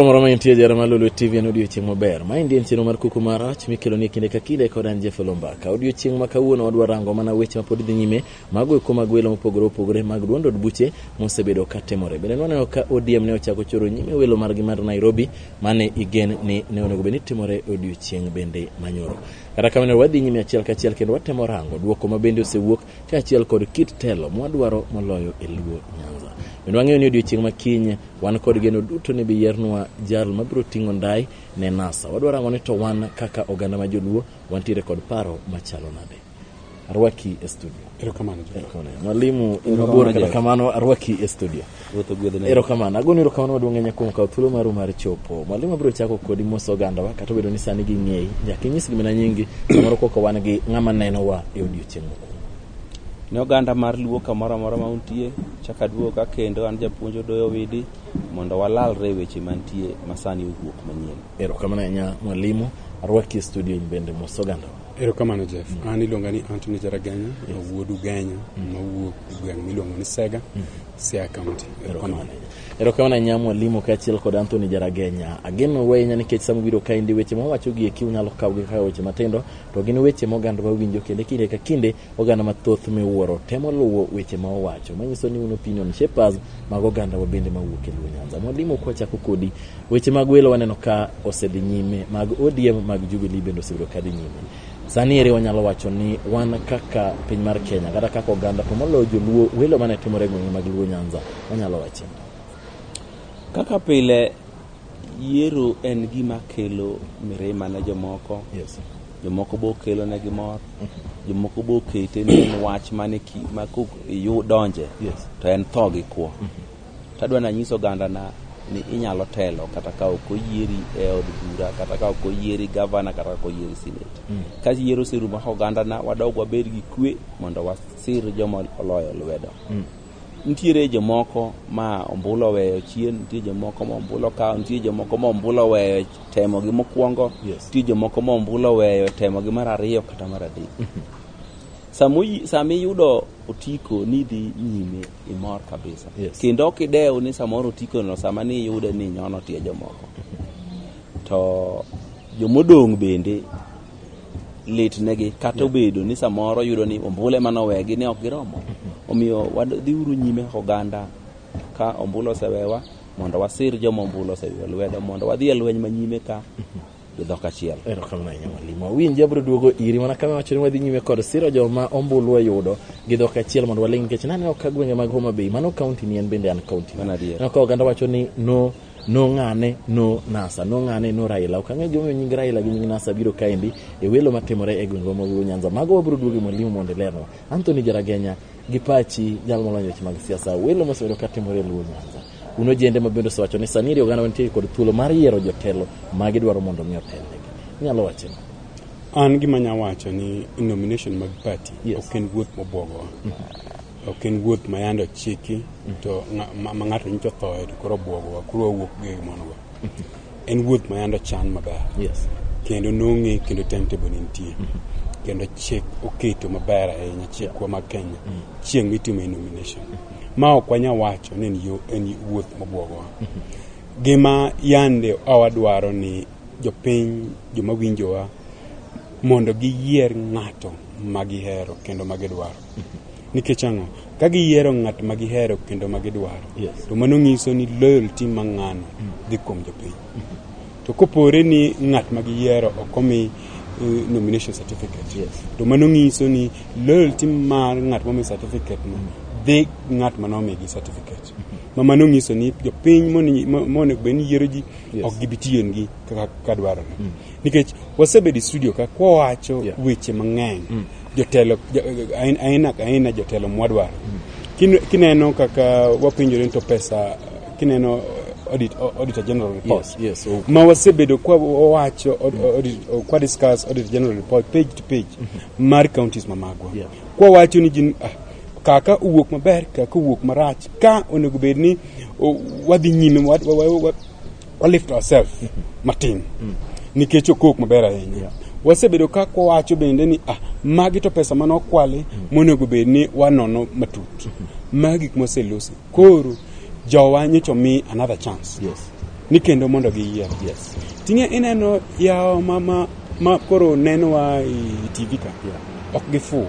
Moro ma intie jara mar Lolwe TV en odiochieng' maber. Ma endi en chenro mar kuku mar rach mikelo ni kinde ka kinde kod an Jeff Lombaka. Odiochieng' ma kawuono wadwa rango mana weche ma pod dhi nyime mago eko mag welo mopogore opogore mag duond od buche mosebedo ka timore. Bende nwaneno ka ODM ne ochako choro nyime welo margi mar Nairobi mane igen ni ne onego bed ni timore odiochieng' bende manyoro. Kata kamano wadhi nyime achiel kachiel kendo watemo rango duoko ma bende osewuok kaachiel kod kit telo mwadwaro moloyo e Luo Nyanza. Bende wang'eyo ni odiochieng' ma kiny wan kod geno duto ni biyiernwa jal mabiro ting'o ndai ne NASA. Wadwaro ang'o ni to wan kaka oganda ma Joluo wantiere kod paro machalo nade? Arwaki e studio. Erokamano. Mwalimu, kamano arwaki e studio. Ruoth ogwedhne. Erokamano. Agoni erokamano maduong' ahinya kuom kawo thuolo maru mar chopo. Mwalimu abiro chako kodi mos ogandawa kata obedo ni sani ging'eyi. Nyaka inyis gimana nyingi samoro koko wan gi ng'ama nenowa e odiochieng' mokwongo. Ne oganda mar Luo kamoro amora ma untie, chak aduogo ka kendo an japuonj Odoyo Widi mondo walalre e weche mantie masani owuok manyien. Erokamano ahinya mwalimu. Arwaki e studio in bende mos ogandawa. Erokamano Jeff. An iluonga ni Anthony Jaragenya, wuod Ugenya mawuok e gweng' miluongo ni Sega. Siaya County. Erokamano. Erokamano ahinya mwalimu kaachiel kod Anthony Jaragenya. Ageno u ahinya nikech sama ubiro kaendi weche mwawacho gi eki unyalo kawo gi kaka weche matindo to gin weche ma oganda wawinjo kendo kinde ka kinde oganda mathoth miwuoro temo luwo weche ma owacho manyiso ni un opinion shapers mag oganda wa bende mawuok e Luo Nyanza. Mwalimu kwachako kodi weche mag welo waneno ka osedhi nyime mag ODM mag Jubilee bende osebedo kadhi nyime. Sani ere wanyalo wacho ni wan kaka piny mar Kenya kata kaka oganda to moloyo joluo welo mane timore e gwenge mag Luo Nyanza wanyalo wacho kaka pile yiero en gima kelo mirima ne jomoko yes. jomoko bo kelo ne gi mor jomoko bo kete ni en wach mane ma kok donje yes. to en tho gi kwo mm -hmm. Tadwa nanyis ogandana ni inyalo telo kata ka ok oyieri e od bura kata ka ok oyieri gavana kata ka ok oyieri senate mm. ka yiero oserumo ka ogandana wadog wabed gi kwe mondo wasir joma oloyo lwedo mm. nitiere jomoko ma ombulo weyo chien nitie jomoko ma ombulo kawo nitie jomoko ma ombulo weyo temo gi mokwongo nitie jomoko ma ombulo weyo temo gi mar ariyo kata mar adek mm-hmm. sama iyudo otiko ni dhi nyime imor kabisa yes. kendo ok idew ni samoro otikono sama ni iyude ni nyono tie jomoko to jomodong' bende litnegi kata obedo ni samoro yudo ni ombule mane owegi ne ok giromo omiyo wadhiuru nyime oganda ka ombulu osewewa mondo wasir joma ombulu osewewa lwedo mondo wadhi e lweny manyime ka gi dhok achiel. Erokamano ahinya mwalimu. Awinji abiro duogo iri mana kama wacho ni wadhi nyime kod siro joma ombulu oyudo gi dhok achiel mondo waling nikech naneno ka gwenge mag Homa Bay mano kaunti ni en bende an kaunti. Mano adier. Aneno ka oganda wacho ni no no ng'ane no nasa no ng'ane no raila ok ang'e gimomiyo nying raila gi nying nasa biro kaendi e welo matimore e gwengwa mag Luo nyanza mago wabiro duogo e mwalimu mondo ilernwa anthony jaragenya gi pachi jal molony e weche mag siasa welo mosebedo katimore e luo nyanza Un ojende ma bende osewacho ni sani iri oganda wantie kod thuolo mar yiero jotelo ma gidwaro mondo mi otelnegi. Inyalo wacho ni. An gima nya wacho ni nomination mag party yes. ok en wuoth mobwogowa. Mm -hmm. Ok en wuoth ma yande ochiki mm -hmm. to ma ng'ato nyicho thoe to koro obwogowa koro wawuok gi monogo. en wuoth ma yando chan maber yes. kendo nong'e kendo timetable ne nitie mm -hmm. kendo chik oketo maber ahinya chikwa mag kenya mm -hmm. chieng' mitimo e nomination mm -hmm. ma ok wanya wacho ni en wuoth mobwogowa mm -hmm. gima yande awadwaro ni jopiny joma winjowa mondo giyier ng'ato ma gihero kendo ma gidwaro Nikech ang'o? Ka giyiero ng'at ma gihero kendo ma gidwaro, Yes. to mano nyiso ni loyalty ma ng'ano dhi kuom jopiny. To kopore ni ng'at ma giyiero ok omi eh, nomination certificate, Yes. to mano nyiso ni loyalty mar ng'at momi certificate no dhi ng'at ma nomigi certificate. Ma mano nyiso ni jopiny moni- mo- monego bed ni yiero ji Yes. ok gibi tiyengi kaka ka dwarore. nikech wasebedo e studio ka kwawacho yeah. weche mang'eny mm. jotelo aina ka aina jotelo mwadwaro mm. kineno kaka wapenjore to pesa kineno audit, auditor general report yes, yes, okay. ma wasebedo kwa wawacho mm. kwa discuss audit general report page to page mm -hmm. mar counties mamagwa yeah. kwa wacho ni jin ah, kaka uwuok maber kaka uwuok marach ka onego bed ni wadhi nyime walift ourselves matin nikech okok maber ahinya wasebedo ka kwawacho bende ni ah, magi to pesa mane okwali monego bed ni wanono matut magi gik moselosi koro jowa nyocha omi another chance Yes. ni kendo mondo giyier Yes. tinge ineno yawo ma, ma, ma koro nenowa e tv ka ok gifuwo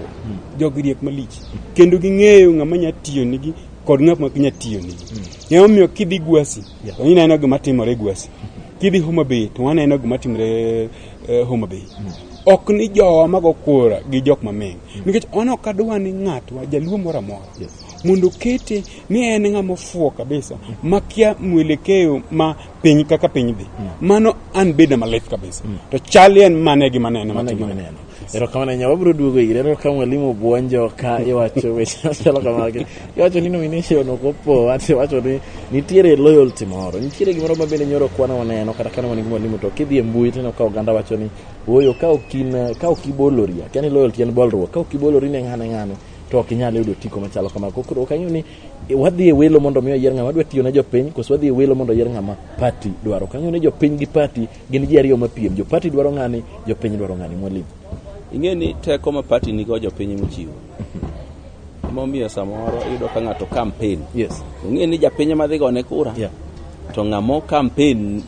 jogi riek malich kendo ging'eyo ng'ama nya tiyo nigi kod ng'ama ok nya tiyo nigi emomiyo kidhi gwasi Yeah. Onyi neno gima timore Gwasi. Kidhi Homa Bay to waneno gima timore uh, Homa Bay. Mm. Ok ni jowa mago kura gi jok mameng. Mm. Nikech on ok adwa ni ng'atwa jaluo moro amora. Yes. Mondo kete ni en ng'ama ofuo kabisa mm. makia mwelekeo ma piny kaka piny dhi. Mm. Mano an beda malit kabisa. Mm. To chali en mane gi manene matimore. Erokamano ahinya, wabiro duogo ire. Aneno ka mwalimu buonjo ka iwacho weche machalo kamagi. Iwacho ni nomination ok opo, ati iwacho ni nitiere loyalty moro. Nitiere gimoro ma bende nyoro kwana waneno kata kane wan gi mwalimu to kidhi e mbui tineno ka oganda wacho ni ooyo ka ok in ka ok ibolori, akia ni loyalty en bolruok, ka ok ibolori ne ng'ane ng'ane to ok inyal yudo otiko machalo kamano. Koro ok ang'eyo ni e, wadhi e welo mondo mi oyier ng'ama dwa tiyo ne jopiny koso wadhi e welo mondo oyier ng'ama party dwaro. Ok ang'eyo ni jopiny gi party Gin ji ariyo mapiem, jo party dwaro ng'ani, jo piny dwaro ng'ani. Mwalimu. Ing'e ni teko ma party nigo jo piny mochiwo. Momiyo samoro iyudo ka ng'ato campaign. Yes. Ong'e ni japiny ma dhi gone kura. Yeah. To ng'amo campaign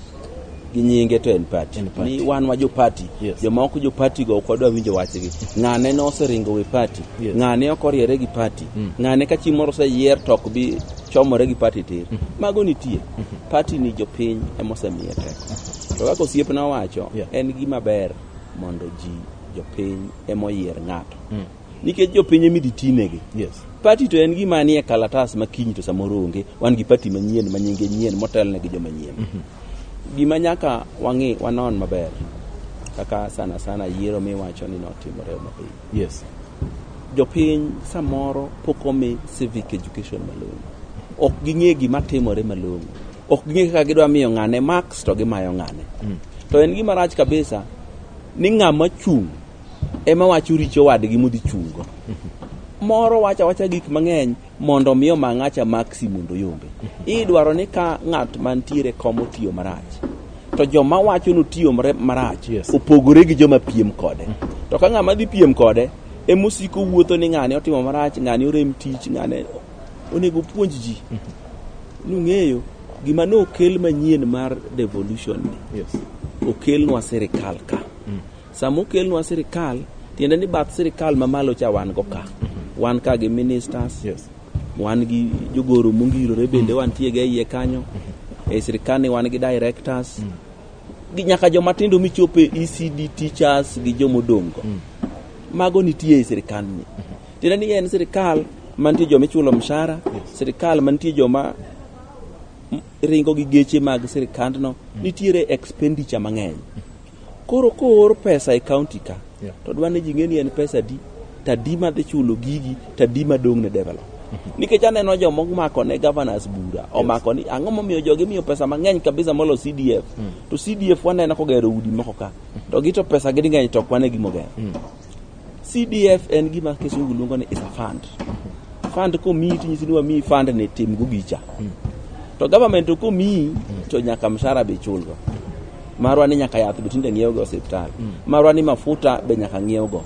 gi nyinge to en party. En party. Ni wan wa jo party. Yes. Joma ok jo party go ok wadwa winjo wachgi. Ng'ane ne oseringo we party. Yes. Ng'ane ok oriere gi party. Ng'ane ka chieng' moro oseyier to ok bi chomore gi party tir. Mago nitie. Party ni jopiny ema osemiye teko. To kaka osiepna owacho, Yeah. en gima ber mondo ji jopiny ema oyier ng'ato. Mm. Nikech jopiny ema idhi tinegi. Yes. Pati to en gima nie kalatas ma kiny to samoro onge. Wan gi pati manyien ma nyinge nyien motelne gi joma nyien. Gima nyaka wang'i wanon maber kaka sana sana yiero miwacho ni notimore Homabay. Yes. jopiny samoro pok omi civic education malong'o ok ging'e gima timore malong'o ok ging'e kaka gidwa miyo ng'ane marks to gimayo ng'ane mm. to en gima rach kabisa ni ng'ama chung' ema wacho richo wadgi modhi chungo mm-hmm. moro wacha wacha gik mang'eny mondo miyo mang'acha maksi mondo yombe mm-hmm. idwaro ni ka ng'at mantiere komo tiyo marach to joma wacho notiyo marach yes. opogore gi joma piem kode mm-hmm. to ka ng'ama dhi piem kode emosiko wuotho ni ng'ani otimo marach ng'ani orem tich ng'ani Onego puonj ji nung'eyo gima ne okel manyien mar devolution ni yes. okelnwa sirikal ka mm. sama okelnwa sirikal tiende ni bath sirikal mamalo cha wan go ka mm-hmm. wan ka gi ministers yes. wan gi jogoro mongirore bende mm. wantie ga iye kanyo mm-hmm. e sirikal ni wan gi directors mm. gi nyaka jomatindo michope ecd teachers gi jomodongo mm. mago nitie e sirikal ni mm-hmm. tiende ni en sirikal mantie joma ichulo mshahara sirikal mantie joma m- ringo gi geche mag sirikandno nitiere expenditure mang'eny koro koor pesa e county ka Yeah. to dwa ni ji ng'e ni en pesa di tadi ma dhi chulo gigi tadi ma dong' ne develop nikech aneno joma omako ne governors bura omako ni ang'o momiyo jogi miyo pesa mang'eny kabisa molo cdf to cdf waneno kogero udi moko ka to gi to pesa gi ng'eny to ok wane gimogero CDF en gima kisungu luongo ni is a fund. Fund komiyi tinyisi ni wamiyi fund ni tim go gicha. To government to komiyi to nyaka mshahara be chulgo. Marwa ni nyaka yath be tinde ng'iewogo e osiptal. Marwa ni mafuta be nyaka ng'iewgo.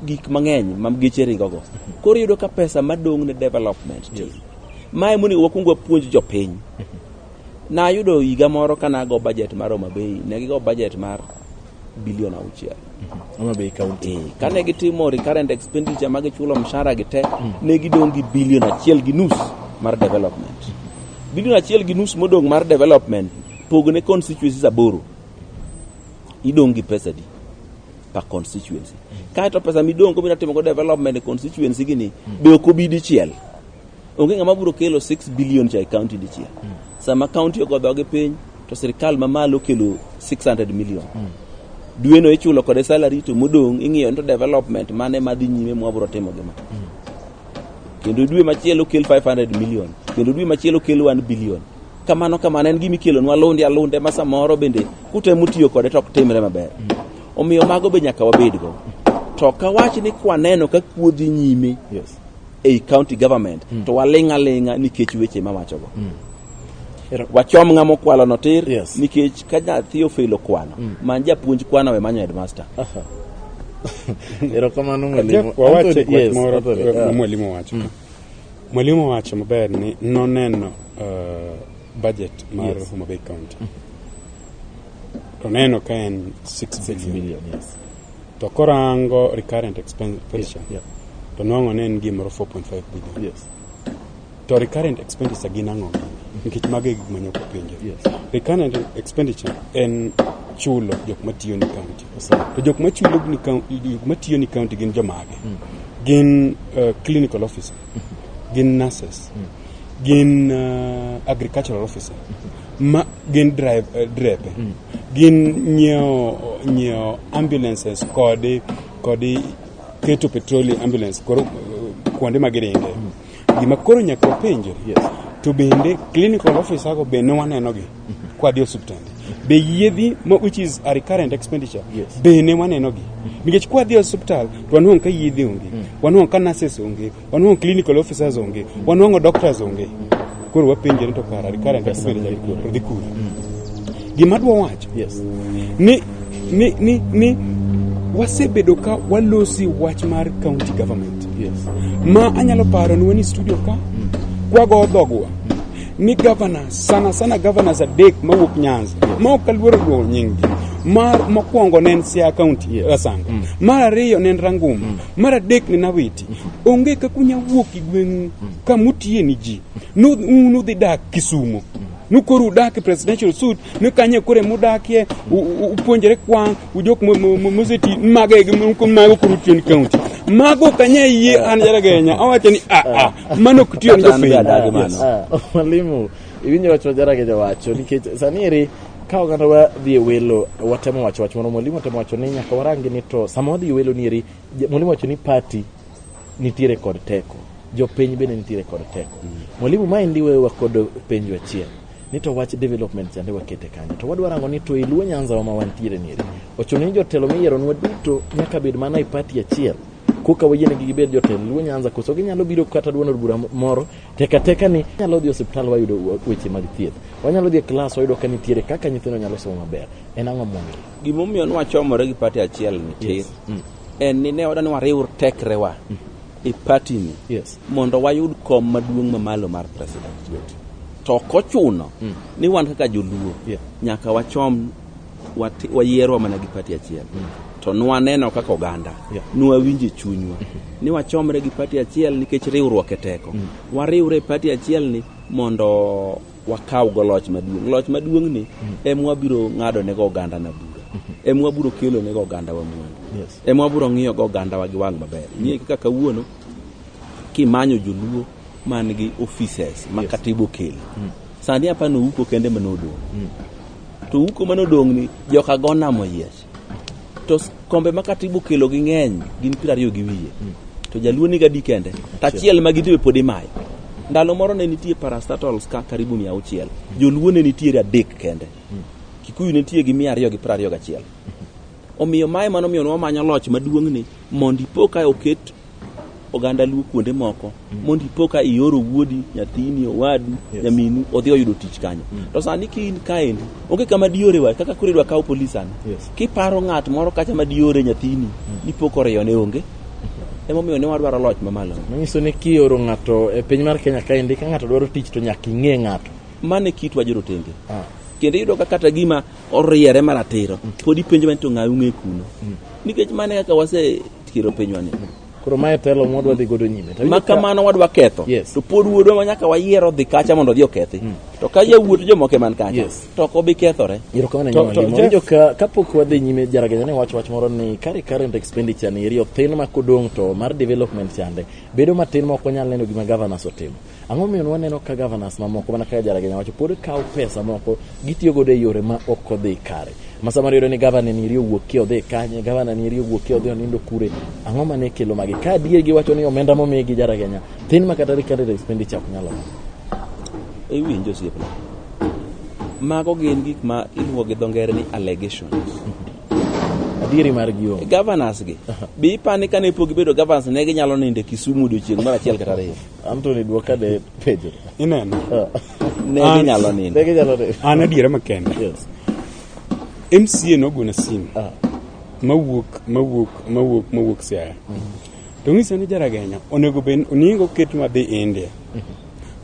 Gik mang'eny ma geche ringogo. Koro iyudo ka pesa madong' ne development tin. Mae monego wakwong wapuonj jopiny. Nayudo higa moro ka nago budget mar Homa Bay, ne gigo budget mar bilion auchiel Homa Bay County. Eh, kane gitimo recurrent expenditure ma gichulo mshahara gi te ne gidong' gi bilion achiel gi nus mar development bilion achiel gi nus modong' mar development pogne constituencies aboro idong' gi pesa di per constituency kaeto pesa midong' go midwa timogo development e constituency gini be ok obi dichiel onge ng'ama biro kelo 6 billion cha e county dichiel mm. sama county ogo dhogi piny to sirkal mamalo kelo 600 million mm. dweno ichulo kode salary to modong' ing'iyo ni to development mane madhi nyime mwabiro timo gima mm. kendo dwe machielo kel 500 million kendo dwe machielo kel 1 billion kamano kamano en gima ikelo nwa lunde alunde ma samoro bende kutemo tiyo kode to ok timre maber mm. omiyo mago be nyaka wabedgo to kawach ni kwaneno ka kuodhi nyime yes. ei county government mm. to waling' aling'a nikech weche mawachogo mm. wachom ng'a mokwalo no tir yes. nikech ka nyathi ofelo kwano mm. man japuonj kwano we manyo headmaster uh -huh. erokamano mwalimu wacho mm. mwalimu wacho maber ni noneno uh, budget mar yes. homabay county mm. to neno ka en 6 billion, billion yes. To korango recurrent expenditure Yeah, to nwang'o ne en gimoro 4.5 billion. Yes. To recurrent expenditure gin ang'o? Nikech mago e gik manyoko penjo. Yes. Recurrent expenditure en chulo jok matiyo ni county. Sawa. To jok machulo ni county, jok matiyo ni county gin jomage? Gin uh, clinical officer, gin nurses, gin uh, agricultural officer, ma gin drive, uh, drepe. gin nyiewo nyiewo ambulances kod kod keto petrol ambulance koro kuonde ma giringe gima koro nyaka wapenje to bende clinical officer go be ne waneno gi kwadhi osiptande be yiedhi ma which is a recurrent expenditure yes. be ne waneno gi nikech kwadhi osiptal to wanwang' ka yiedhi onge mm. wanwang' ka nurses onge Wanwang'o clinical officers onge, wanwang'o doctors onge. Koro wapenje ni to kara kara ndio Pesa kubele dhi kure. jari dhi kure. Gima dwa wacho Yes. ni ni ni ni wasebedo ka walosi wach mar county government Yes. ma anyalo paro ni wanie studio ka kwago dhogwa ni governor sana sana governors adek mawuok nyanza ma ok aluoro luongo nyinggi mar mokwongo ne en siaya county Yes. asanga mar ariyo ne en ranguma mar adek ne en awiti onge kaka unya wuok e gweng'u ka mutiye ni ji Nu- un udhi dak kisumo nu koro udak e presidential suit nu kanye kore mudakie u- u- upuonjre kwang' ujok mo- mo- mo- moseti mago e gi- mo- mago koro utiyo ni county mago kanye yie an jaragenya awacho ni aa mano ok tiyo ni Kata an be jopiny adagi mano. Yes. Ah, mwalimu iwinjo wach ma jarageja wacho nikech sani eri ka oganda wadhi e welo watemo wacho wach moro mwalimu otemo wacho ni nyaka warangi ni to sama wadhi e welo ni eri Mwalimu wacho ni party nitiere kod teko, jopiny bende nitiere kod teko. Mm. Mwalimu, ma endi wewa kod penjo achiel ni to wach development chande wakete kanyo to wadwa rango ni to e luo nyanza wa ma wantiere ni ochuno ni jotelo miyieronwa duto nyaka bed mana e pati achiel koka wayienegi gibed jotelo luo nyanza koso ginyalo biro kata duond od bura moro teka teka ni nyalo dhi osiptal wayudo weche mag thieth wanyalo dhi e klas wayudo ka nitiere kaka nyithindo nyalo somo maber en ang'o momiyo Gimomiyo nwachomore gi pati achiel ni tir Yes. Mm. en ni ne wadwani wariw tekrewa e patini Yes. mondo wayud kom maduong' mamalo mar president to ok ochuno ni wan kaka joluo Yeah. nyaka wachom wati- wayierwa mana gi pati achiel to nwaneno kaka oganda Yeah. nwawinje chunywa ni wachomre gi pati achiel nikech riwruok e teko wariwre e pati achielni mondo wakaw go loch maduong' loch maduong' ni em wabiro ng'ado ne go oganda na bura em wabiro kelo ne go oganda wa mwandu Yes. em wabiro ng'iyo go oganda wa gi wang' maber ng'iye kaka kawuono kimanyo joluo man gi offices ma katiba okelo sani apani uko kende mane odong' to uko mane odong' ni joka go namo yiech to s- kombe ma katibu kelo gi ng'eny gin piero ariyo gi wiye to jaluo niga di kende to achiel ma gidhiwe pod imayo ndalo moro ne nitie parastatols ka karibu mia auchiel joluo ne nitiere adek kende kikuyu ne nitie gi mia ariyo gi piero ariyo gachiel omiyo mae mano omiyo nwamanyo loch maduong'ni mondo ipo ka oket oganda luo kuonde moko mm. mondo ipo ka ioro wuodi nyathini owadu yes. nyaminu odhi oyudo tich kanyo mm. to sani ka in kaendi onge kama diore wa kaka koro idwa kawo polis sani yes. kiparo ng'at moro kacha ma diore nyathini mm. dipo koriyo ne onge emomiyo ne wadwaro loch mamalo manyiso ni kioro ng'ato e piny mar kenya kaendi ka ng'ato dwaro tich to nyaka ing'e ng'ato mane kitwa jorotenge ah. kendo iyudo ka kata gima oriere maratiro mm. pod ipenjo mani to ng'ayo ung'e kuno mm. nikech mane kaka wase kiro pinywa ni koro mae telo mwadwa dhi godo nyime ma kamano wadwa ketho yes. to pod wuodwa ma nyaka wayiero dhi kacha mondo odhi okethi mm. to ka jawuot jomoko man kacha yes. to ok obi kethore erokamanajo kapok wadhi nyime jaraganya ne wach wach moro ni kare current expenditure ni eri othin ma kodong' to mar development chande bedo matin ma ok wanyal neno gima governors otimo Ang'o momiyo waneno ka governors mamoko mana kaka Jaragenyo wacho pod kawo pesa moko gitiyo godo e yore ma ok odhi kare. Ma samoro iyudo ni gavana ni iri owuok ki odhi kanye, gavana ni iri owuok ki odhi onindo kure. Ang'o mane kelo magi? Ka adier giwacho ni omenda momi gi Jaragenyo thin ma kata recurrent expenditure ok nyalo. Iwinjo osiepna. Mago gin gik ma iluongo gi dho ngere ni allegations. Adieri mar gi onge. Governors gi. Be ipani kane pok gibedo governors ne ginyalo nindo e Kisumu odiochieng' mar achiel kata ariyo? Anthony dwoka ne penjo. Ineno? Ne An- ginyalo nindo. Ne ginyalo nindo. An adiera makende. Yes. MCA nogona simu. Ah. Mawuok, mawuok, mawuok, mawuok Siaya. To ng'isa ni jaragenya, onego bed, onego oket madhi India.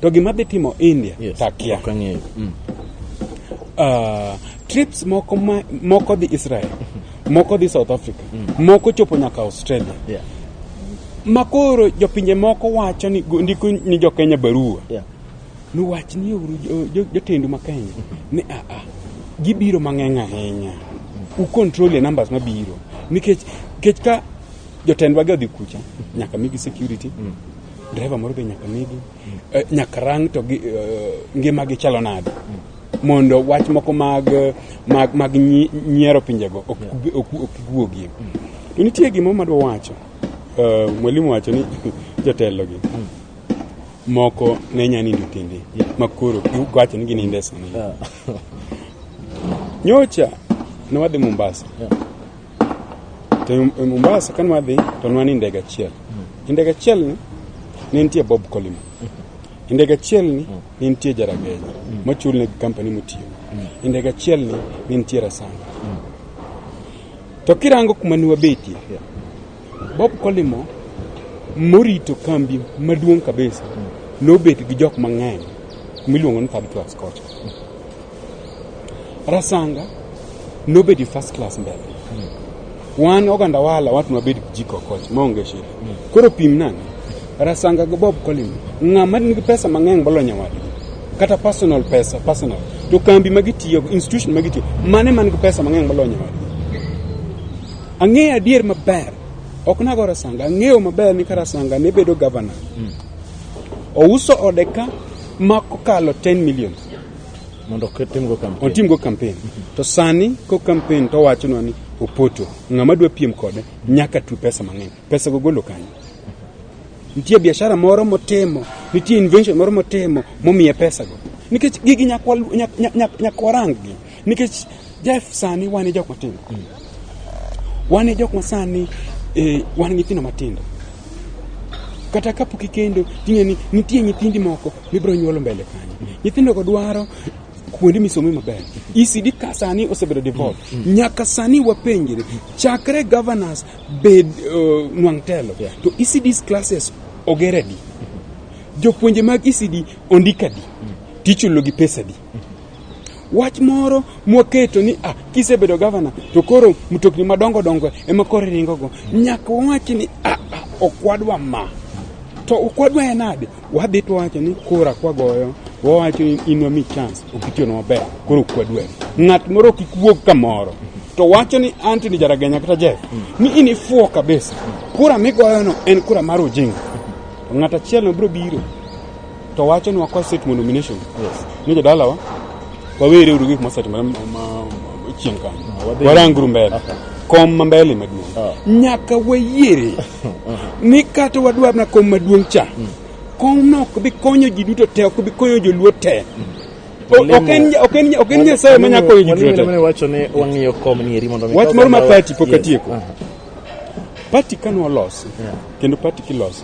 To gima dhi timo India, Yes. takia. Ok ang'eyo. Mm. Ah, trips moko ma, moko dhi Israel. moko dhi south africa mm. moko chopo nyaka australia yeah. makoro jopinje moko wacho ni ndiko ni jokenya barua yeah. niwach ni uru jotendu ma kenya ni aa ah, ah, gibiro mang'eny ahinya mm. ucontrol e numbers mabiro nikech kech ka jotendwa gi odhi kucha nyaka migi security mm. driver moro be nyaka migi eh, nyaka rang to eh, ngima gi chalo nade mondo wach moko mag mag, mag nyiero pinjego ok guogie to nitie gima madwa wacho eh, mwalimu wacho ni jotelo gi moko ne nya nindo tinde makoro giwacho ni gininde sani nyocha ne wadhi Mombasa To e Mombasa kane wadhi to nwa ni ndege achiel. E ndege achiel ni ne nitie Bob Colima. E ndege achiel ni ne nitie Jaragenya machul ne company motiyo. E ndege achiel ni ne nitie Rasanga. To kirango kuma ne wabetie Bob Kolimo morito kambi maduong' kabisa nobet gi jok mang'eny miluongo ni third class kocha. Rasanga nobedi first class mbele wan oganda wala watu wabed jiko kocha maonge shida koro pim nani rasanga go bob colin ng'ama nigi pesa mang'eny bolo nyawadgi kata personal pesa personal to kambi ma gitiyo institution ma gitiyo mane man gi pesa mang'eny bolo nyawadgi Ang'eyo adier maber, ok nago Rasanga, ang'eyo maber ni ka Rasanga ne bedo gavana, mm. ouso ode ka ma kokalo 10 million mondo otimgo kampen. Otimgo kampen. Mm -hmm. To sani ko kampen to wachonwa ni Opoto, ng'ama dwa piem kode nyaka tu pesa mang'eny. Pesa go golo kanyo. Nitie biashara moro motimo, nitie invention moro motimo momiye pesa go. Nikech gigi nyakwarang gi. nikech Jeff sani wan e jok matindo mm. wan e jok ma sani e, wan nyithindo matindo kata kapok ikendo ting'e ni nitie nyithindi moko mibiro nyuolo mbele kanyo mm. nyithindogo dwaro kuonde misome maber ECD ka sani osebedo devolved mm. mm. nyaka sani wapenjre chakre governors bed uh, nwang' telo yeah. to ECD's classes ogeradi mm-hmm. jopuonje mag ECD ondikadi mm. tichulogi pesadi wach moro mwaketo ni ah, kisebedo gavana to koro mtokni madongo dongo ema koro iringogo nyaka wawachi ni ah, ah, okwadwa ma to okwadwa en ade wadhi to wacho ni kora kwagoyo wawacho ni inwa mi chance okitiyono maber koro okwadwa ng'at moro kik wuog kamoro to wacho ni antony jaragenya kata jeff ni in ifuo kabisa kura migoyono en kura mar ojinga to ng'at achielno biro biro To wacho ni wakwa state mondo nomination. Yes. Ni jadalawa wawere uru gik mosetimore chien kanyo. Waranguru mbele. Kom ma mbele maduong'. Ah. Nyaka wayiere ni kata wadwar na kom maduong' cha. Hmm. Kom no ok bi konyo ji duto te, ok bi konyo joluo te. Hmm. Ok en nyasaye ma nyako konyo ji duto te. Wach moro ma pati pok atieko. Pati ka nolosi, Yeah. kendo pati kiloso,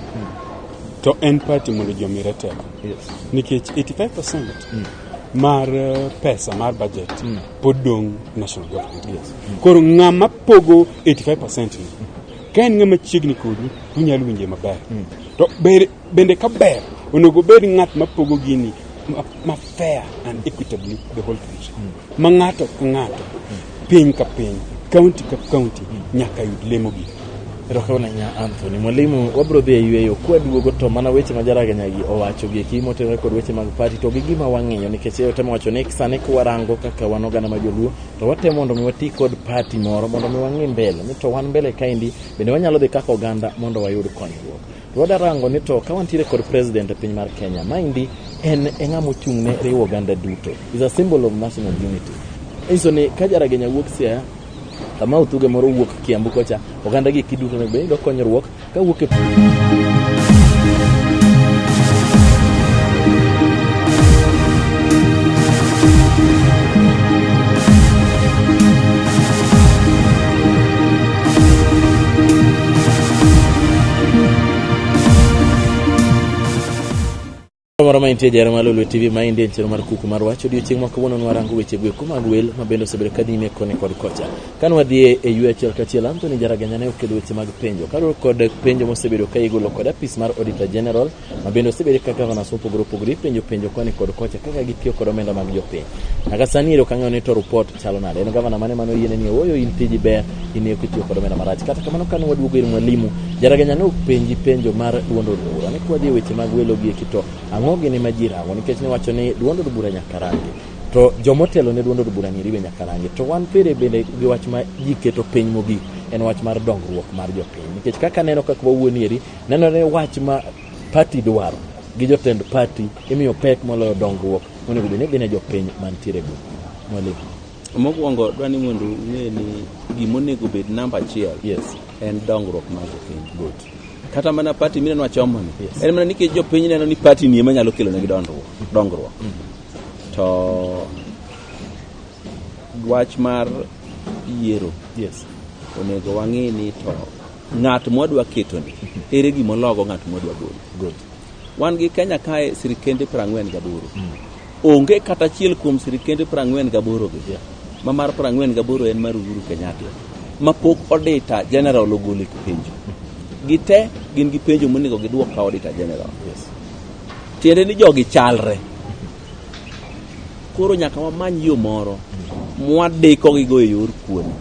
to en pati mondo ji omire teko. Yes. Nikech 85% mar eh, pesa mar budget pod dong' national government. Yes. Koro ng'ama pogo 85% ni, ka en ng'ama chiegni kodi, unyalo winje maber. To ber Bende ka ber, onego obed ng'at ma pogo gini ma- ma fair and equitably the whole country. Ma ng'ato ka ng'ato, piny ka piny, county ka county nyaka yud lemo gi. Erokamano ahinya Anthony. Mwalimu, wabiro dhi e yueyo kwaduogo to mana weche ma jaraganyagi owacho gi eki motenore kod weche mag pati to gi gima wang'iyo nikech eyo temo wacho ni sani kwarango kaka wan oganda ma joluo to watemo mondo mi wati kod pati moro mondo mi wang'i mbele ni to wan mbele kaendi bende wanyalo dhi kaka oganda mondo wayud konyruok. Wadarango ni to ka wantiere kod president e piny mar Kenya, maendi en e ng'ama ochung' ne riwo oganda duto. Is a symbol of national unity. Inyiso ni ka Jaragenya wuok Siaya, kama Uthuge moro wuok Kiambu kocha, oganda gi kiduto ne bedo konyruok ka wuok e moro ma intie jara malo lwe tv ma inde en chenro mar kuku mar wach odiochieng' ma kawuono nwarango weche gweko mag wel ma bende osebedo ka nyime koni kod kocha ka nwadhie e yue achiel kachiel anthony jaraganya ne okelo weche mag penjo kaluwore kod penjo mosebedo ka igolo kod apis mar auditor general ma bende osebede ka governors mopogore opogore ipenjo penjo koni kod kocha kaka gitiyo kod omenda mag jopiny nyaka sani ero kang'eyo ni to report chalo nade en gavana mane mano yiene ni ooyo in tiji ber in eko itiyo kod omenda marach kata kamano kane waduogo ir mwalimu jaraganya ne openji penjo mar duond od bura ni kwadhi e weche mag welo gi eki to ang'o gini ma ji rango nikech ne wacho ni duond od bura nyaka rangi to jomotelo ne duond od bura ni riwe nyaka rangi to wan pere bende gi wach ma ji keto piny mogik en wach mar dongruok mar jopiny nikech kaka aneno kaka wawuoni eri Nenore wach ma pati dwaro gi jotend pati imiyo pek moloyo dongruok monego bed ni gine jopiny mantiere go mwalimu mokwongo dwa ni mondo ung'e ni gimonego bed namba achiel yes. en dongruok mar jopiny good kata mana pati mineno achomoni yes. en mana nikech jopiny neno ni pati ni ema nyalo kelonegi dongruok dongruok mm. to wach mar yiero yes. onego wang'e ni to ng'at mwadwa ketoni ere gima ologo ng'at mwadwa golo wan gi kenya kae sirikende prang'wen gaboro mm. onge kata achiel kuom sirikende prang'wen gaborogi yeah. ma mar prang'wen gaboro en mar uhuru kenyatta ma pok odita general ogolo e penjo gite gin gi penjo monego gidwok ka odita general yes. tiende ni jogi chalre koro nyaka wamany yo moro mm. mwadikogigo e yor kuoni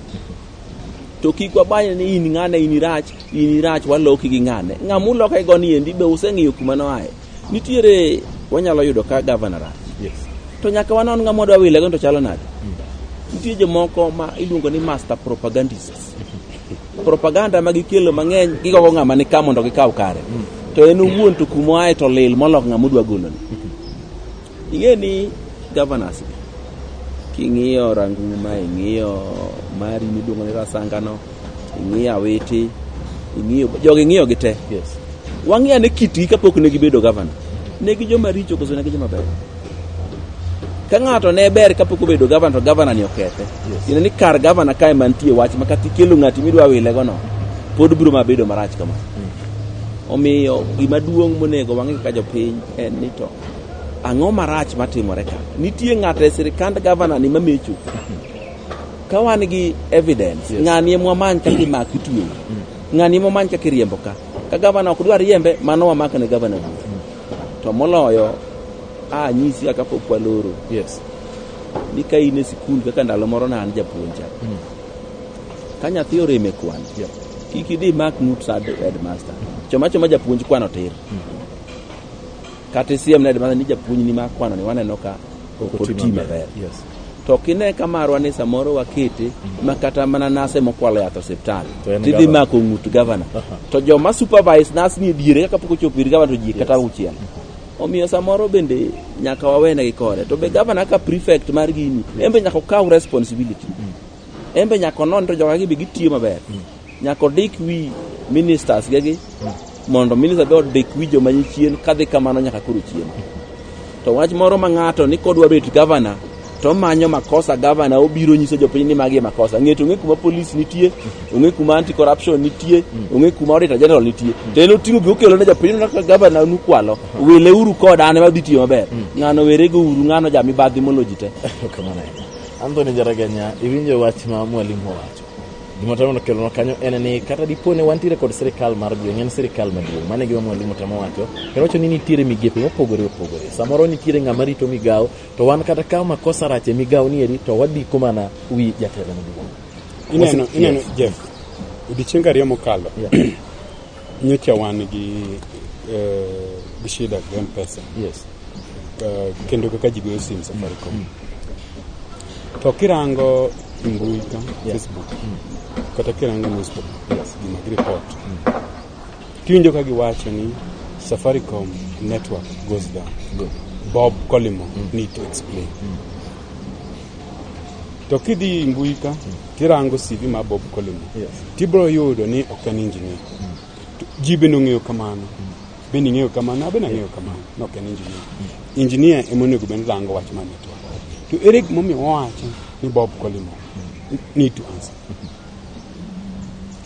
to kik wabanye ni in ng'ane in irach in irach waloki gi ng'ane ng'ama uloka e goni endi be useng'iyo kuma noaye nitiere wanyalo yudo ka gavana rach Yes. to nyaka wanon ng'ama wadwa wile go to chalo nade nitie jomoko ma iluongo ni master propagandists propaganda ma gikelo mang'eny gigogo ng'ama ni ka mondo gikaw kare to en owuon to kuma aye to lil molok ng'ama odwa goloni Ing'e ni governors gi king'iyo Ranguma, ing'iyo Mari miluongo ni Rasangano, ing'iyo Awiti, ing'iyo jogi ing'iyo gi te. Yes. Wang'iyo ane kitgi kapok ne gibedo governor. Ne gi joma richo koso ne gi joma ber. Ka ng'ato ne ber kapok obedo governor to governor ni okethe. Yes. Ine ni kar governor kae mantie wach ma kata ikelo ng'ati midwa wile gono pod biro ma bedo marach kama. Omiyo gima duong' monego wang'e kaka jopiny en ni to Ang'o marach matimore ka? Nitie ng'ato e sirikand gavana ni mamecho. Ka wan gi evidence, yes. ng'ani emwa many kaka imak itweyo. Mm. Ng'ani emwa many kaka iriembo ka. Ka gavana ok dwar riembe, mano wamak ne gavana duto. Mm. To moloyo, a nyisi kaka pok waloro. Yes. Ni ka in e sikul kaka ndalo moro na an japuonja. Mm. Ka nyathi oreme kwan. Yeah. Kiki di mak nut sa headmaster. Choma choma japuonj kwano tir. Mm. Kata isiem nade mana ni japuonjni ma kwano ni waneno ka ok oti maber. Yes. To kine ka marwa ni samoro wakete ma kata mana nase mokwalo yath osiptal. To en Tidhi governor. mako ng'ut gavana. To joma supervise nas ni diere kaka pok ochopo ir gavana to ji kata uchiel. Omiyo samoro bende nyaka wawenegi kode. To be gavana ka prefect mar gini, en be nyaka okaw responsibility. en be nyaka onon to jogagi be gitiyo maber nyaka odik wi ministers gegi mondo minister be odik wi joma ni chien kadhi kamano nyaka koro chien to wach moro ma ng'ato ni kodwa bet gavana to manyo makosa gavana obiro nyiso jopiny ni magi e makosa ng'eto ong'e kuma polis nitie ong'e kuma anti corruption nitie ong'e kuma auditor general nitie to en oting'o gi okelo ne jopiny no ka gavana nukwalo wile uru koda an ema dhi tiyo maber ng'ano werego uru ng'ano jamibadhi moloji te Kamano. Anthony Jaraganya, iwinjo wach ma mwalimu owacho. Gima temo kelonwa kanyo en ni kata dipo ni wantiere kod sirikal mar gweng' en sirikal maduong'. Mano e gima mwalimu temo wacho. Kendo wacho ni nitiere migepe mopogore opogore. Samoro nitiere ng'ama rito migawo to wan kata ka makosa rach e migawo ni eri to wadiko mana wi jatelo maduong'. Ineno, ineno Jeff, odiechienge ariyo mokalo Nyocha wan gi eh, gi shida gi M-Pesa. Yes. Eh, kendo kaka ji goyo sim Safaricom. To kirango e mbui ka Facebook kata kirango newspaper gima gi report. Tiwinjo ka giwacho ni Safaricom network goes down. Bob Collymore need to explain. To kidhi mbui ka Kirango CV ma Bob Collymore, yes. tibro yudo ni ok en engineer. Mm. Ji bende ong'eyo kamano. Mm. Bende ing'eyo kamano, abende ang'eyo kamano, ni ok en engineer. Mm. Engineer ema onego bende rango wach mane to. To ere gimomiyo wawacho ni Bob Collymore mm. need to answer.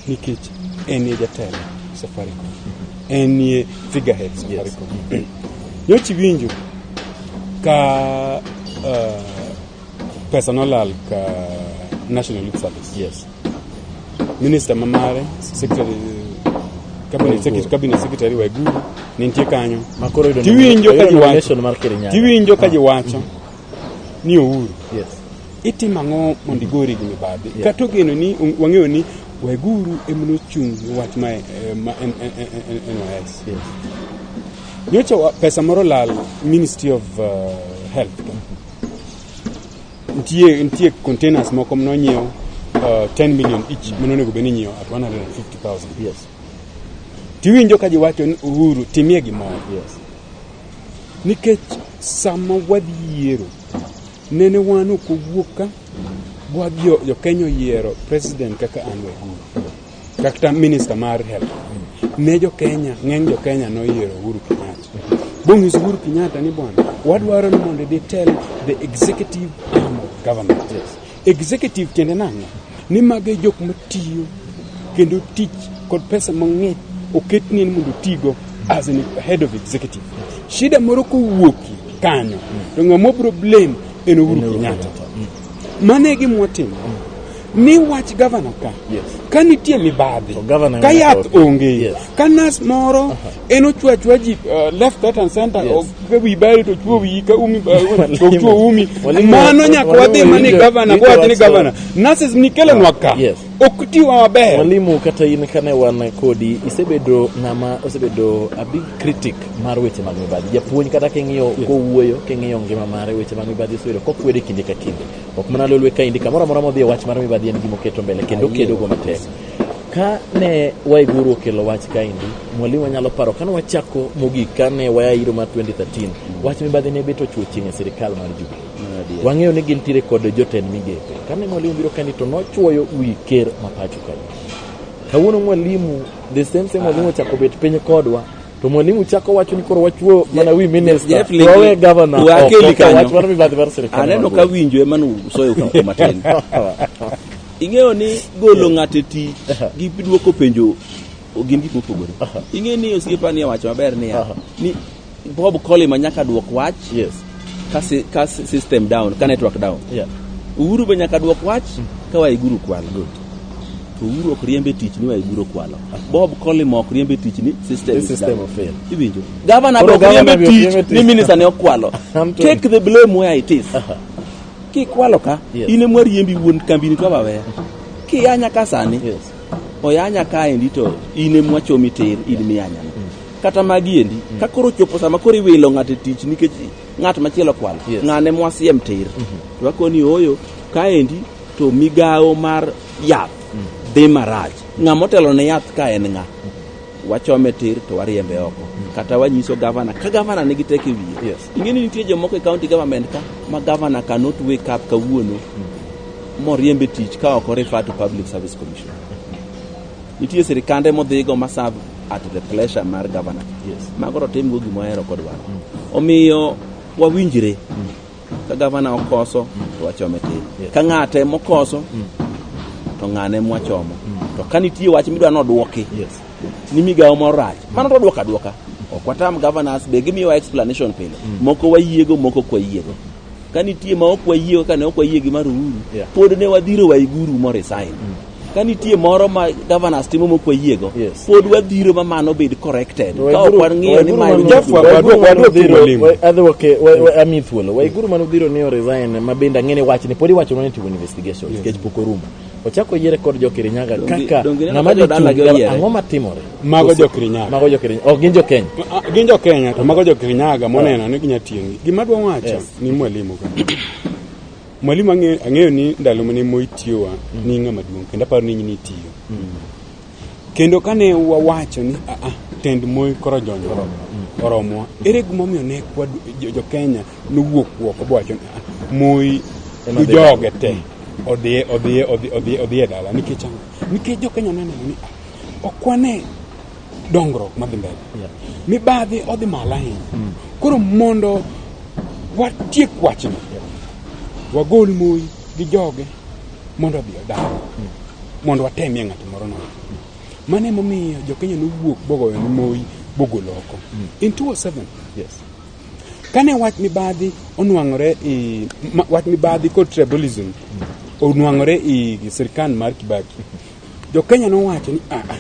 Nikech en ye jatelo Safaricom. En ye figurehead Safaricom. Yes. Nyochi winjo ka uh, Pesa nolal ka National Youth Service. Yes. Minister mamare, secretary cabinet secretary, cabinet secretary Waiguru ne nitie kanyo. Makoro yudo Tiwinjo ka jiwacho. mar Kirinyaga. Tiwinjo ka jiwacho ni ouru. Yes. Itimo ang'o mondo igori gi mibadhi? Yeah. Kata ogeno ni wang'eyo ni Waiguru ema nochung' ne wach ma eh, ma en- en- en- en- en- NYS. Yes. Nyocha wa- pesa moro lal Ministry of uh, Health nitie nitie containers moko mnonyiew uh, 10 million each mm. manonego bed ni nyiew at 150000 yes tiwinjo ka jiwacho ni uhuru timie gimoro yes nikech sama wadhi yiero nene wan ok owuok ka gwa jo kenya oyiero president kaka an wahuru kata minista mar health ne jo Kenya ng'eny jo Kenya noyiero Uhuru Kenyatta bong'is Uhuru Kenyatta ni bwana wadwaro ni mondo idhi tell the executive arm of government yes. executive tiende nang'o ni mago e jok matiyo kendo tich kod pesa mang'eny oketni ni mondo tigo as an head of executive shida moro kowuoki kanyo to ng'ama obro blame en Uhuru Kenyatta mano e gimwatimo Mi wach gavana ka. Yes. Ka nitie mibadhi. Ka yath onge. Yes. Ka nas moro uh -huh. en ochwa chwa ji uh, left that and center yes. of ka wi bari to chwo wi ka umi uh, to chwo umi. Mano nyaka wadhi mani gavana kwa wadhi ni gavana. Nurses ni kelo nwa ka. Yes. Ok tiwa maber. Mwalimu kata in kane wan kodi isebedo ng'ama osebedo a big critic mar weche mag mibadhi. Japuonj kata king'iyo yes. kowuoyo king'iyo ngima mare weche mag mibadhi osebedo kokwede kinde ka kinde. Ok mana lolwe ka indi kamoro amora modhi e wach mar mibadhi en gima oketo mbele kendo okedogo matek. Ka ne Waiguru okelo wach ka indi, mwalimu wanyalo paro kane wachako mogik kane waya iro mar 2013, wach mibadhi ne bet ochwo chieng' e sirikal mar Jubilee. Wang'eyo ni gintiere kod jotend migepe. Kane mwalimu biro kani to nochwoyo wi ker ma pacho kae. Kawuono mwalimu, the same same mwalimu ochako bet piny kodwa To mwalimu chako wacho ni koro wachuo mana wi minister. Jeff Ligi- Wawe governor. Wa oko, keli kanyo. wach mano mibadhi mar sirkal. aneno ka winjo ema nusoyo kuko matin ing'eyo ni golo ng'ato e tich gi dwoko penjo gin gik mopogore ing'eyo ni osiepani owacho maber niya ni bob colima nyaka dwok wach Yes. ka, si, ka system down ka network down yeah. uhuru be nyaka dwok wach mm. ka waiguru kwalo good to uhuru ok riembe tich ni waiguru kwalo bob colim ok riembe tich ni system, system fail iwinjo gavana be ok riembe tich ni minister ne okwalo take the blame where it is uh -huh. kikwalo ka yes. in emwa riembi wuon kambini to waweya kiyanya ka sani yes. oyanya kaendi to in emwa chomi tir in miyanyana kata magi endi mm. ka koro chopo sama koro iwilo ng'ato e tich nikech ng'at machielo kwal yes. ng'ane mwasiem tir mm -hmm. to akoni oyo kaendi to migawo mar yath mm. dhi marach ng'a motelo ne yath ka en ng'a mm-hmm. wachome tir to wariembe oko mm. kata wanyiso gavana ka gavana nigi teke wiye yes. ing'eni nitie jomoko e county government ka ma gavana cannot wake up kawuono mm. moriembe tich ka ok orifa to public service commission Nitie sirkande modhigo ma serve at the pleasure mar governor. Yes. Mago to timgo gima ohero kod waro. Omiyo wawinjre ka gavana okoso to wachome tir. Yes. Ka ng'ate mokoso to ng'ane mwachomo. To ka nitie wach midwa nodwoki Yes. ni migawo moro rach, mano to dwoka dwoka. Ok watam governors be gimiyowa explanation pile. Moko wayiego, moko ok wayiego. ka nitie ma ok wayie kaka ne ok wayie gi mar uhuru Yeah. pod ne wadhiro waiguru moresign ka nitie moro ma governors timo mok wayiego Yes. pod wadhiro ma mano bed corrected To ka ok waiguru- wang'iyo ni waiguru ma mano- Jafwa, Waiguru wadwok- mano wadwok dhiro, mwalimu. wa- adhi wake- wa- wa- ami thuolo waiguru mane udhiro ni oresign ma bende ang'e ni wachni pod iwacho ni timo investigation nikech pok orumo ochako yiere kod jo Kirinyaga Donge- kaka donge ineno ng'ama ka dhi jodala chung' gi oyiere? ang'o matimore Mago jo Kirinyaga. Mago jo Kirinyaga. Ok gin jo Kenya. Ah, ah, gin jo Kenya to mago jo Kirinyaga moneno ni ginya tiyo gi. Gima dwa wacho yes. ni mwalimu ka. mwalimu ang'eyo ni ndalo mane Moi tiyowa mm. ni ng'ama duong' kendo aparo ni nyini tiyo. Mm. Kendo kane wawacho ni a ah, a tend Moi koro jonjo mm. oromwa. Ere gimomiyo ne kwa jo Kenya nowuok wuok obowacho ni a Moi joge te. Mm. Odhiye odhiye odhiye odhiye dala nikech nikech jo Kenya neno ni a Ok wane dongruok madhi mbele. Yeah. Mibadhi odhi malo ahinya. Mm. Koro mondo watiek wachno, yeah. wagol moi gi joge mondo odhi odag. Mm. Mondo watemie ng'ato moro nono. Mm. Mano emomiyo jokenya nowuok bogoyo ni moi bogolo oko. Mm. In 2007. Yes. Kane wach mibadhi onwang'ore i wach mibadhi kod tribalism mm. onwang'ore i sirkand mar Kibaki Jokenya nowacho ni aa, ah, ah,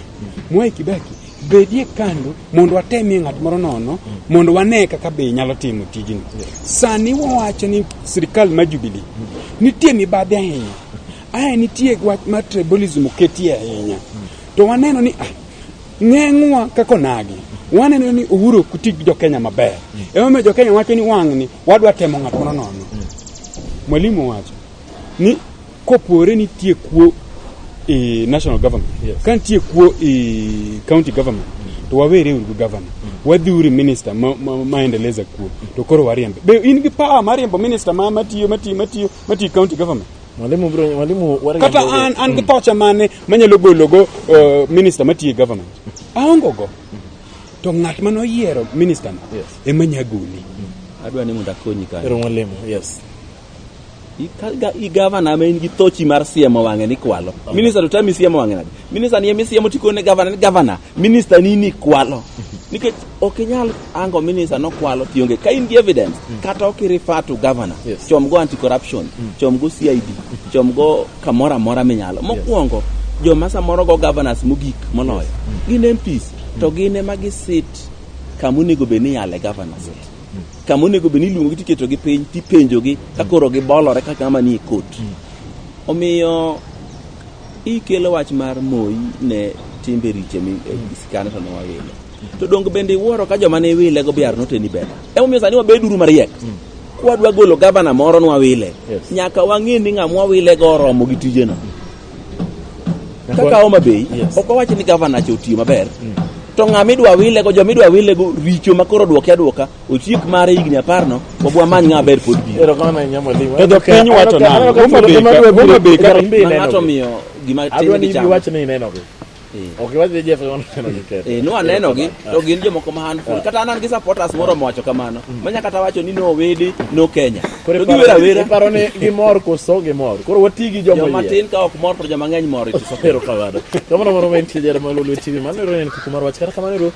Mwai Kibaki bedie kando mondo watemie ng'at moro nono mondo wane kaka be nyalo timo tijni. Sani wawacho ni sirikal ma Jubilee nitie mibadhi ahinya, ae nitie wach mar tribalism oketie ahinya, to waneno ni ah, ng'eng'wa kaka onagi waneno ni Uhuru ok ti gi Jokenya maber. Emomiyo Jokenya wacho ni wang'ni wadwa temo ng'at moro nono. Mwalimu wacho ni Kopore nitie kuo e national government yes. ka nitie kuo e county government to wawere uru gi governor mm. wadhi uri minister ma, ma, ma endeleza kuo to koro wariembe be in gi power mar riembo minister ma matiyo matiyo matiyo matiyo county government mwalimu bro mwalimu kata an an gi mm. tocha mane manyalo golo go uh, minister matiyo e government aongo go to ng'at ma noyiero minister no yes. ema nyagoli mm. adwa ni mondo akonyi kanyo mwalimu yes i gavana ma in gi tochi mar siemo wang'e ni kwalo minista to tami siemo wang'e nade minista ni emisiemo tikone gavana ni gavana minista ni ni kwalo nikech ok inyal ango minista nokwalo tionge ka in gi evidence mm. kata ok irifa to gavana yes. chom go anti corruption mm. chom go cid chom go kamoro amora minyalo mokwongo yes. joma samoro go governors mogik moloyo yes. mm. gin mps to mm. gin ema gisit kamonego bed ni yale governors yes. kama onego bed ni iluongogi tiketogi piny tipenjogi ka koro gibolore ka kama nie kot omiyo ikelo wach mar moyi ne timbe riche mi- eh, sikane to nowawile to donge bende iwuoro ka joma ne iwilego biar noteni bela emomiyo sani wabeduru mariek kwadwa golo gavana moro nwawile Yes. nyaka wang'e ni ng'ama wawilego oromo gi tijeno Kaka Homa Bay, Yes. ok wawachi ni gavana cha otiyo maber. To ng'a midwa wile go, joma idwa wile go richo ma koro dwoke adwoka, ochiek mare higni apar no, wab wamany ng'a ber pod biro. Erokamano ahinya mwalimu. To dho piny wacho Aneno ka- nang'o? aneno ka Homa Bay thuolo ka- ema dwe Homa Bay biro. ka- Ng'ato miyo gima Adwa tin ni gi chama. iwacho ni inenogi. Eh. Ok iwach ni Jeff Yohana neno gi ketho. Eh, no aneno gi to gin jomoko ma handful. Kata an an gi supporters moro mowacho kamano. Mm. Manya kata wacho ni no wede no Kenya. Koro To giwera wera. iparo ni gimor koso gimor. Koro wati gi joma Joma yie. tin ka ok mor to joma ng'eny mor it is okay. Ero kawada. Kamano moro ma en tijara ma lulu TV. Mano ero en kuku mar wach. Kata kamano ero